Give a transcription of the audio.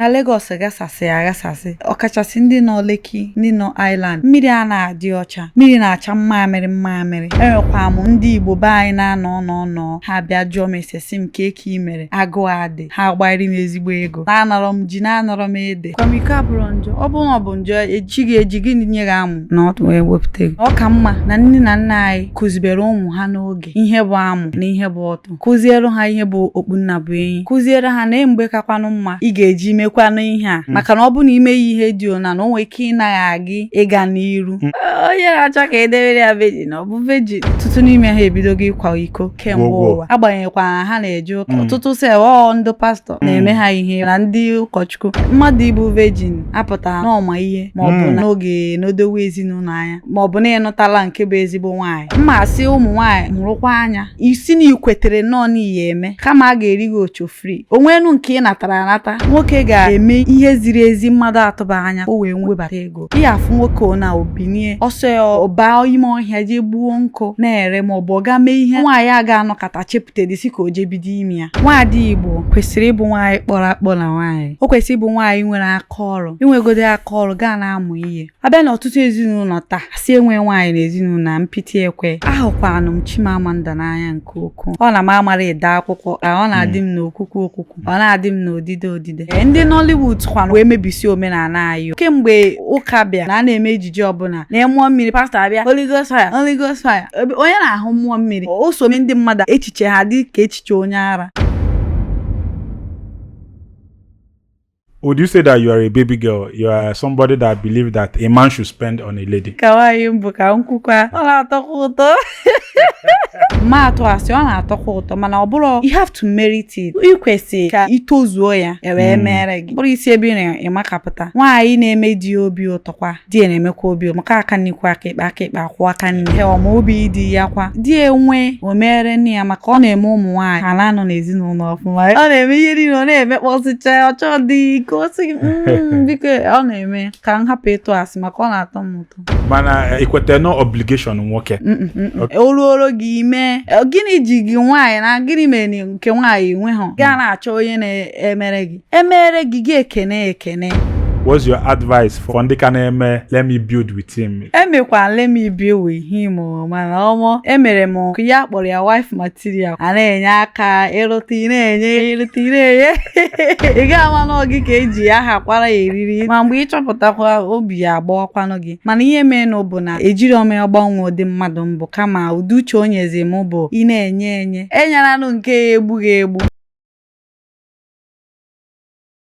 na Lagos ghasasị aghasasị ọkachasị ndị nọ Lekki ndị nọ Island mmiri a na-adị ọcha mmiri na-acha mmamịrị mmamịrị enwekwa m ndị Igbo be anyị na-anọ nọ nọ ha bịa jụọ m ese sị m ka eke mere agụụ adị ha gbairi m ezigbo ego na-anọrọ m ji na-anọrọ m ede akwamiko abụrọ njọ ọ bụrụ na ọ bụ njọ eji gị eji gịnị nye gị amụ na ọtụ wee wepụta gị ọ ka mma na nne na nna anyị kụzibere ụmụ ha n'oge ihe bụ amụ na ihe bụ ọtụ kụziere ha ihe bụ okpu nna bụ enyi kụziere ha na mgbe kakwanụ mma ị ga-eji mekwanụ ihe a hmm. maka na ọ bụrụ na ime ya ihe dị ona na o nwere ike ịnagha gị ịga n'iru hmm. onye na-achọ ka edewere ya vejin ọ bụ vejin ọtụtụ n'ime ha ebidogo ịkwa iko kemgbe ụwa agbanyeghịkwa ha na-eje ụka hmm. ọtụtụ sef ọ ndị pastọ na-eme ha ihe na ndị ụkọchukwu mmadụ ịbụ vejin apụtarọ na ọ ma ihe ma ọ bụ na ọ ga-enedowe ezinụlọ anya ma ọ bụ na ịnụtala nke bụ ezigbo nwaanyị mma asị ụmụ nwaanyị mụrụkwa anya ị sị na ikwetere nnọọ na ị ya-eme kama a ga-eri gị osho free o nwenụ nke ị natara anata nwoke ga-eme ihe ziri ezi mmadụ atụba anya o wee webata ego ị ya-afụ nwoke na o binie ọ sọ ya ọ baa ime ọhịa jee gbuo nkụ na-ere ma ọ bụ ọ gaa mee ihe nwaanyị a ga-anọkata chepụtadị sị ka o jee bido ime ya nwaada Igbo kwesịrị ịbụ nwaanyị kpọrọ akpọ na nwaanyị o kwesịrị ịbụ nwaanyị nwere aka ọrụ inwegodi aka ọrụ gaa na-amụ ihe abịa na ọtụtụ ezinụlọ taa sị enwe nwaanyị na ezinụlọ a mpịtị ekwe ahụkwanụ m Chimamanda n'anya nke ukwuu ọ na m amarọ ede akwụkwọ ka ọ na-adị m n'okwukwu okwukwu ọ na-adị m n'odide odide Ee, ndị Nollywood kwanụ wee mebisi omenala anyị o. kemgbe ụka bịa na a na-eme ejije ọbụla na mmụọ mmiri pastọ abịa Holy Ghost fire Holy Ghost fire Ebe- onye na-ahụ mmụọ mmiri o so mee ndị mmadụ echiche ha dị ka echiche onye ara would you say that you are a baby girl? You are somebody that believes that a man should spend on a lady. ka nwaanyị m bụ ka m kwukwaa ọ na-atọkwa ụtọ m ma atụ asị ọ na-atọkwa ụtọ mana ọ bụrụ you have to merit it ị kwesịrị ka itozuo ya e wee hmm. mere gị bụrụ isi ebe ị na-emakapụta nwaanyị na-eme di obi ụtọkwa di ya na-emekwa obi maka aka nri kwọọ aka ekpe aka ekpe akwọọ aka nri he ọ ma obi di ya kwa di ya enwee o meere nwunye ya maka ọ na-eme ụmụ nwaanyị ha na-anọ n'ezinụlọ ọfụma ọ na-eme ihe niile ọ na-emekpọsịcha ọ chọọ dị ka o si mm, biko ọ na-eme ka m hapụ ịtụ asị maka ọ na-atọ m ụtọ mana ikweta na ọ obligation nwoke o ruoro gị ime gịnị ji gị nwaanyị na gịnị mere nke nwaanyị enweghị gaa na-achọ onye na-emere gị emere gị gị ekene ekene What's your advice for ndị ka na-eme let me build with him? emekwa let me build with him o, mana ọmọ emere m nke ya kpọrọ ya wife material a na-enye aka ịrụta ị na-enye ịrụta ị na-enye ị ga-ama na ọ gị ka eji ya hakwara ya eriri ma mgbe ị chọpụtakwa obi ya agbawakwanụ gị mana ihe meenụ bụ na ejirọ m ya gbanwee ụdị mmadụ m bụ kama ụdị uche o nyezi m bụ ị na-enye enye enyelanụ nke ya-egbu gị egbu